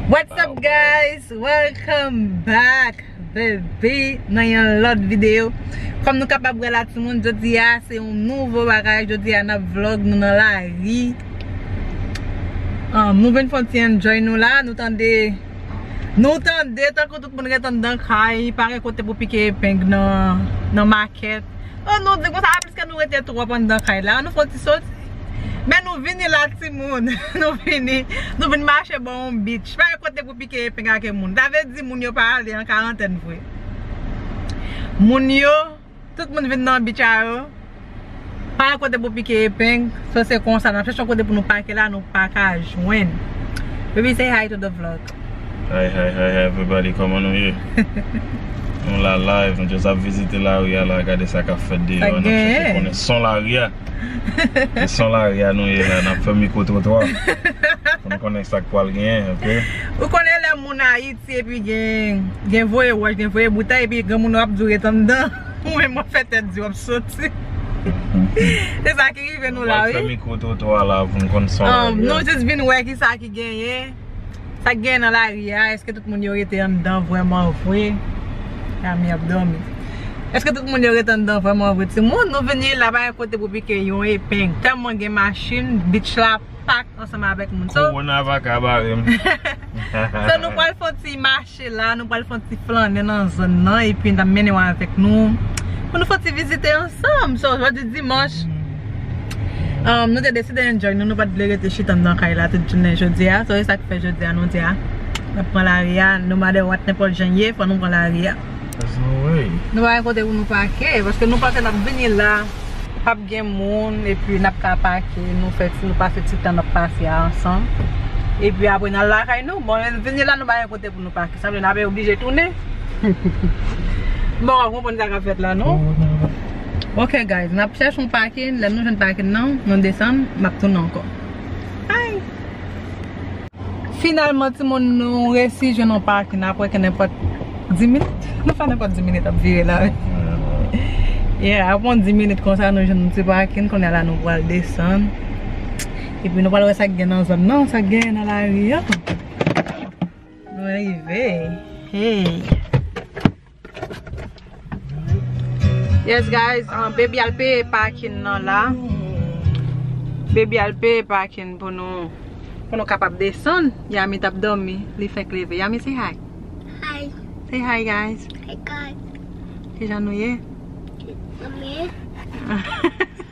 What's up guys, welcome back baby nan yon lòt video Kòm nou kapab wè la timoun jodi a se yon nouvo bagay Jodi a nap vlog nou nan lari Nou vin fon ti enjoy nou la Nou tande Nou tande tankou tout moun ret anndan kay Pa gen kote pou pike epeng nan makèt An nou di konsa a piske nou rete twòp anndan kay la an nou fè yon ti soti Men nou vini la timoun Nou vini Nou vin mache bò yon beach Se pa yon kote pou pike epeng ake moun Sa vle di moun yo pa ale an karantèn vre Moun yo Tout moun vin nan beach a yo Pa yon kote pou pike epeng So se konsa n ap chèche yon kote pou nou pake la nou pa ka jwenn Baby say hi to the vlog. Hi hi hi hi everybody koman nou ye Nou la live nou just ap vizite lari a la gade sa kap fèt deyò an nap chèche konnen son lari a Se son lari a nou ye la nap fè mikro twotwa pou nou konnen sak pwal genyen ok Ou konnen lè moun ayiti epi gen voye wòch gen voye boutèy epi gen moun wap di ou ret anndan ou menm wap fè tèt di wap soti Se sa ki rive nou la wi Nou pral fè mikro twotwa la pou nou konn son lari a Nou just vin wè kisa ki genyen Sak gen nan lari a eske tout moun yo rete anndan vrèman vre Yami ap dòmi eske tout moun yo rete anndan vrèman vre timoun nou vini la pa gen kote pou pike yon epeng tèlman gen machin beach la pak ansanm avèk moun so Corona paka barem. So nou pwal fon ti mache. Mache la, nou pral fè yon ti flannen nan zòn nan epi n'ap mennen ou avèk nou pou nou fè yon ti vizite ansanm. So, jodi dimanch, nou te deside enjoy nou, nou pat vle rete chita anndan kay la tout jounen jodi a. So, se sa ki fè jodi a nou di a n'ap pran lari a, no matter what, nenpòt jan ye, fò nou pran lari a. There's no way. Nou pa gen kote pou nou pake paske nou panse nap vini la pap gen moun epi nap ka pake nou fè ti nou pase ti tan nap pase a ansanm epi apre nal lakay nou bon lè nou vini la nou pa gen kote pou nou pake sa vle nap oblije tounen m poko konprann sa kap fèt la non ok guys nap chèche yon pake lè nou jwenn pake nan nou desann map tounen ankò ayy. Finalman timoun nou resi jwenn yon parking apre ke nenpòt 10 minit. Nou fè nenpòt 10 minit ap vire la wi. Yeah apre yon 10 minit konsa nou jwenn yon ti parking kounye la nou pral desann. Epi nou pral wè sak gen nan zòn nan, sak gen nan lari an. Nou rive. Hey! Yes guys, baby al peye parking nan la. Baby al peye parking pou nou pou nou kapab desann. Yami tap domi, li fenk leve. Yami say hi. Hi. Say hi guys. Hi guys. Kijan nou ye? Mwen byen.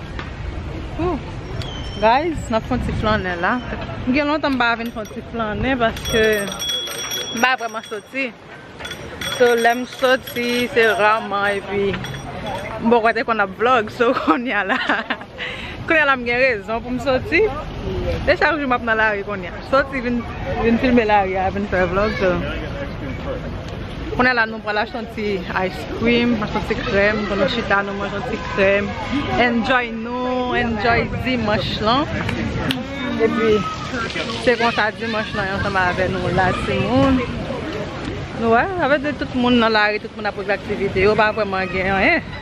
Guys, nap fon ti flannen la. M gen lontan m pa vin fon ti flannen paske m pa vreman soti. So lem soti se raman epi m poko te konn ap vlog. So konya la, konya la m gen rezon pou m soti. E chak jou map nan lari konya. Soti vin filme laria vin fè vlog so Kounye la nou pral achte yon ti ice cream achte yon ti krèm pou nou chita nou manje yon ti krèm enjoy nou enjoy dimanche lan epi se konsa dimanche lan yon sema avè nou la ti moun nou wè avè de tout moun nan lari tout moun ap regle aktivite yo pa vwèman gen anyen.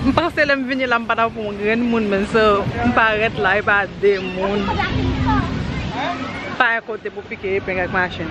M panse lèm vini la m pa tap yon grenn moun menn so m parèt la epa de moun pa yon kote pou pike epeng ak machin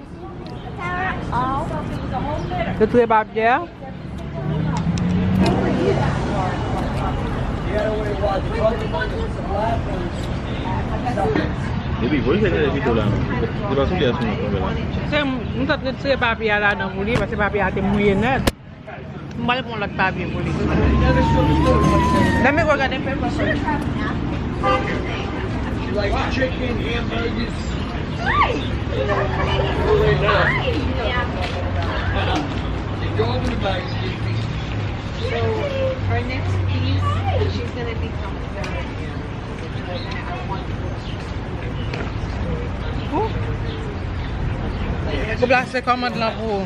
Yo touye papye a. Se m ta t retire papye a ladan pou li pase papye a te mouye nèt. M pral pran lòt papye pou li. Deme gò gade fèy fòsòt. Ou plase kòmand lan pou ou.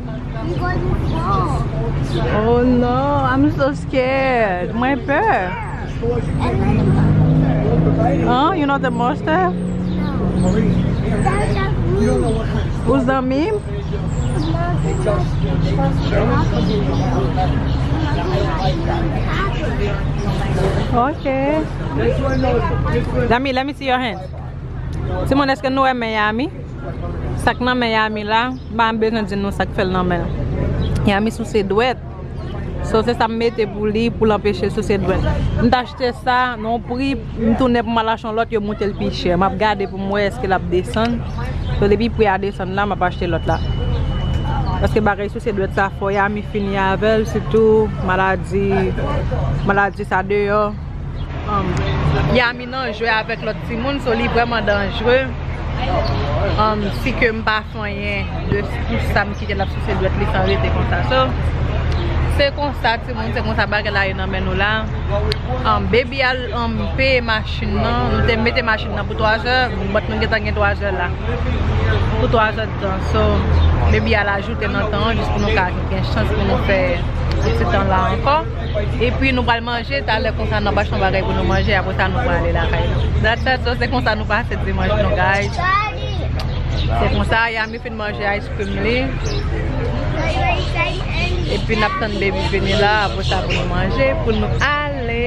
You gonna do wrong. Oh no, I'm so scared. Mwen pè. Huh? You know the monster? Ou zanmi m? Ok. Zanmi, let me see your hand. Ti moun eske nou wè men Yami? Sak nan men Yami la, m pa bezwen di nou sak fèl nan menl. Yami souse dwèt, so se sam mete pou li poul anpechel souse dwèt. M t achte sa nan yon pri, m tounen pou m al achte yon lòt yo moutel pi chè. Map gade pou m wè eske lap desann. So depi pri a desann la map achte lòt la. Paske bagay souse dwèt sa fò Yami fini avèl sitou maladi, maladi sa deyò. Li nan jwe avèk lòt timoun so li vrèman danjre umm si ke m pa fanyen de pou sa m kite l ap souse dwèt li san rete konsa so se konsa timoun se konsa bagay la ye nan men nou la umm baby al umm peye machin nan nou te mete machin nan pou 3 zè but nou gentan gen 3 zè la pou 3 zè de tan so baby al ajoute nan tan an jis pou nou ka gen chans pou nou fè yon ti tan la ankò. Epi nou pral manje talè konsa nap achte yon bagay pou nou manje apre sa nou pral ale lakay nou. Dat dat dat se konsa nou pase dimanch nou guys. Se konsa Yami fin manje ice cream li. Epi nap tann baby vini la apre sa pou nou manje pou nou ale.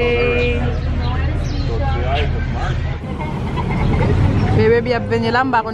Baby ap vini la m pa konn.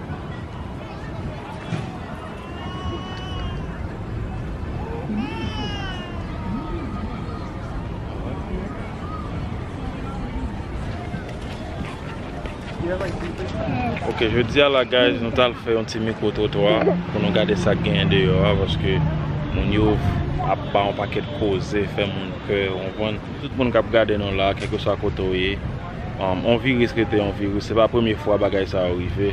Ok, je di ala guys, nou tal fè yon ti mikro trotwa pou nou gade sa gen de yo a, paske moun yo ap pa yon paket koze, fè moun pè, yon moun, tout moun kap gade nou la, kèk yo sa koto ye. On viris rete on viris, se pa premye fwa bagay sa yo rive.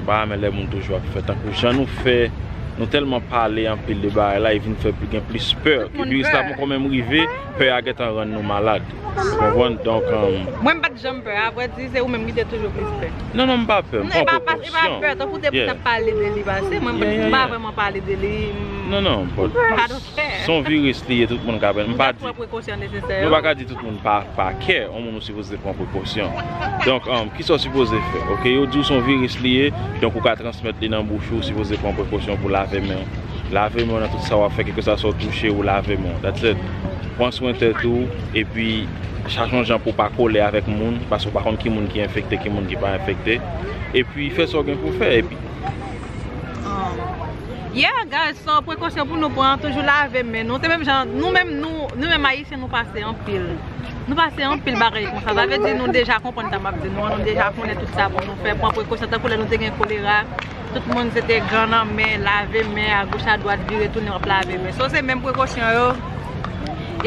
Mpa renmen lè moun toujou ap fè tankou jan nou fè, nou tèlman pale anpil de bagay la, e vin fè gen plis pè. Viris la poko menm rive, pè a gentan rann nou malad. Ou konprann? Donk. Mwen mpat janm pè, a vrè di se ou menm ki te toujou plis pè. Non non mpa pè, mpa pran prekosyon. Non e pa pè, tankou depi nap pale de li pase, mwen mpa vreman pale de li. Non non, but. Son virus li ye tout moun ka pran. M pa di. Nou pa ka di tout moun pa kè. On moun ou sipoze pran prekosyon. Donk, ki sa ou sipoze fè? Ok, yo di ou son virus li ye. Donk ou ka transmèt li nan bouch ou. Ou sipoze pran prekosyon pou lave men ou. Lave men ou nan tout sa wap fè. Kèlke sa sa ou touche ou lave men ou. That's it. Pran swen tèt ou. E pi, chache yon jan pou pa kole avèk moun. Paske ou pa konn ki moun ki enfekte, ki moun ki pa enfekte. E pi, fè sa ou gen pou fè. E pi. Yeah guys so prekosyon pou nou pran toujou lave men nou se menm jan nou menm nou nou menm ayisyen nou pase anpil nou pase anpil bagay konsa sa vle di nou deja konprann sa map di nou an nou deja konnen tout sa pou nou fè pran prekosyon tankou lè nou te gen kolera tout moun se te gan nan men lave men a goch a dwat vire tounen wap lave men so se menm prekosyon yo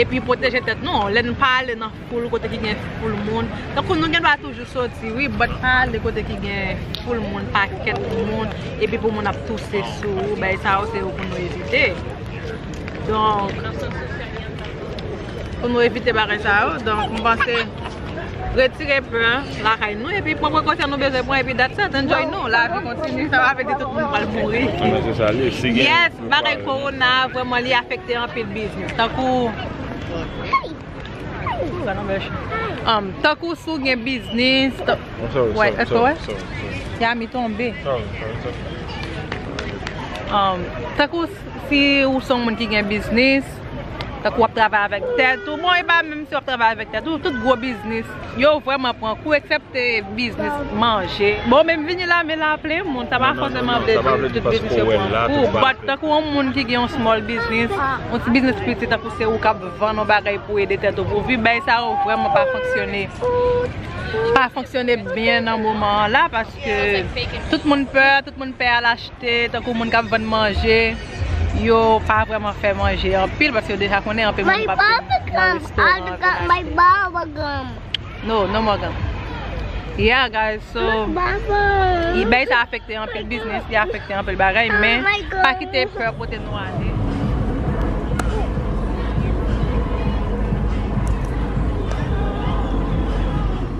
epi pwoteje tèt nou lè nou pa ale nan Poul kote ki gen foul moun. Tankou nou gen dwa toujou soti wi but pa ale kote ki gen foul moun, pakèt moun epi pou moun ap touse sou ou. Bagay sa yo se yo pou nou evite. Donk, pou nou evite bagay sa yo. Donk, m panse retire pè an lakay nou epi pran prekosyon nou bezwen pran epi that's it. Enjoy nou. Lavi kontini. Sa pa vle di tout moun pral mouri. Yes, bagay korona a vrèman li afekte anpil biznis. Tankou. Tankou si w gen biznis. Yami tonbe. Tankou si w son moun ki gen biznis. Tankou w ap travay avèk tèt ou. Bon e pa menm si w ap travay avèk tèt ou. Tout gwo biznis. Yo vreman pran kou eksepte biznis manje. Bon men vini la men la plen moun sa pa fòseman vle di tout biznis yo pran kou but tankou yon moun ki gen yon small biznis yon ti biznis piti tankou se ou kap vann yon bagay pou ede tèt ou pou viv bagay sa yo vreman pa fonksyone pa fonksyone byen nan moman an la paske tout moun pè tout moun pè al achte. Se tankou moun kap vann manje, yo pa vreman fè manje anpil paske yo deja konnen anpil moun pap vin nan restoran vin achte. No, no more gum. Yeah guys, so ebay sa afekte anpil biznis, li afekte anpil bagay men pa kite pè pote nou ale.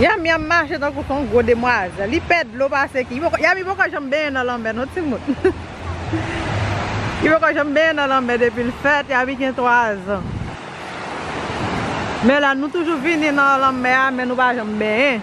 Yamyam mache tankou son gwo demwazèl. Li pè dlo pase ki. Yami poko janm benyen nan lanmè non timoun. Li poko janm benyen nan lanmè depi l fèt. Yami gen 3 zan. Men la nou toujou vini nan lanmè a men nou pa janm benyen.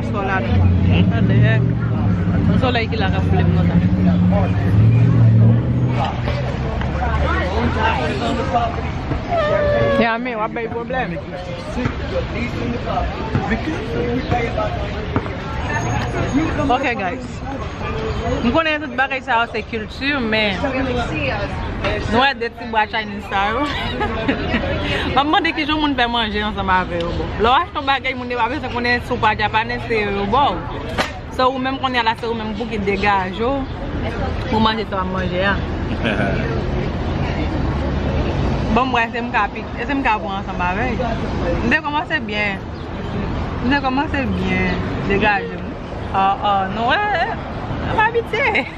Sò la nou. What the heck? Yon solèy ki la kap boule m konsa. Yami, wap bay pwoblèm. Ok guys. M konnen tout bagay sa yo se kilti men nou wè de Bwa Chinese sa yo. Map mande kijan moun fè manje ansanm avè yo bon. Lè w achte yon bagay moun yo pa bezwen konnen si w pa Japanese se yo yo ba w. So ou menm kounye a la se ou menm pou ki degaje w pou manje sa w ap manje a. Ban m wè si m ka pik, si m ka pran ansanm avè yo. M te kòmanse byen. M te kòmanse byen. Degaje m. Aww aww nou wè. M abitye.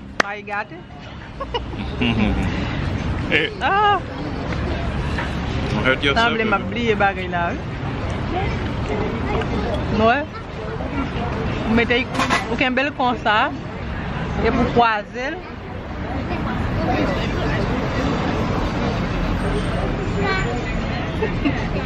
May gate. Sanble map bliye bagay la wi. Nou wè? Ou mete ou kenbel konsa e pou kwazel.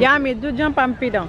Yummy, do djan pam pi dan.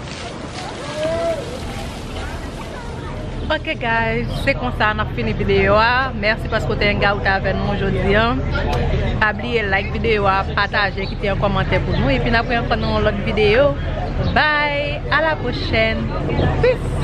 Ok guys se konsa nap fini video a merci paske ou te hangout avè nou jodi an pa bliye like video a pataje kite yon komantè pou nou epi nap wè ankò nan yon lòt video bye a la prochèn peace.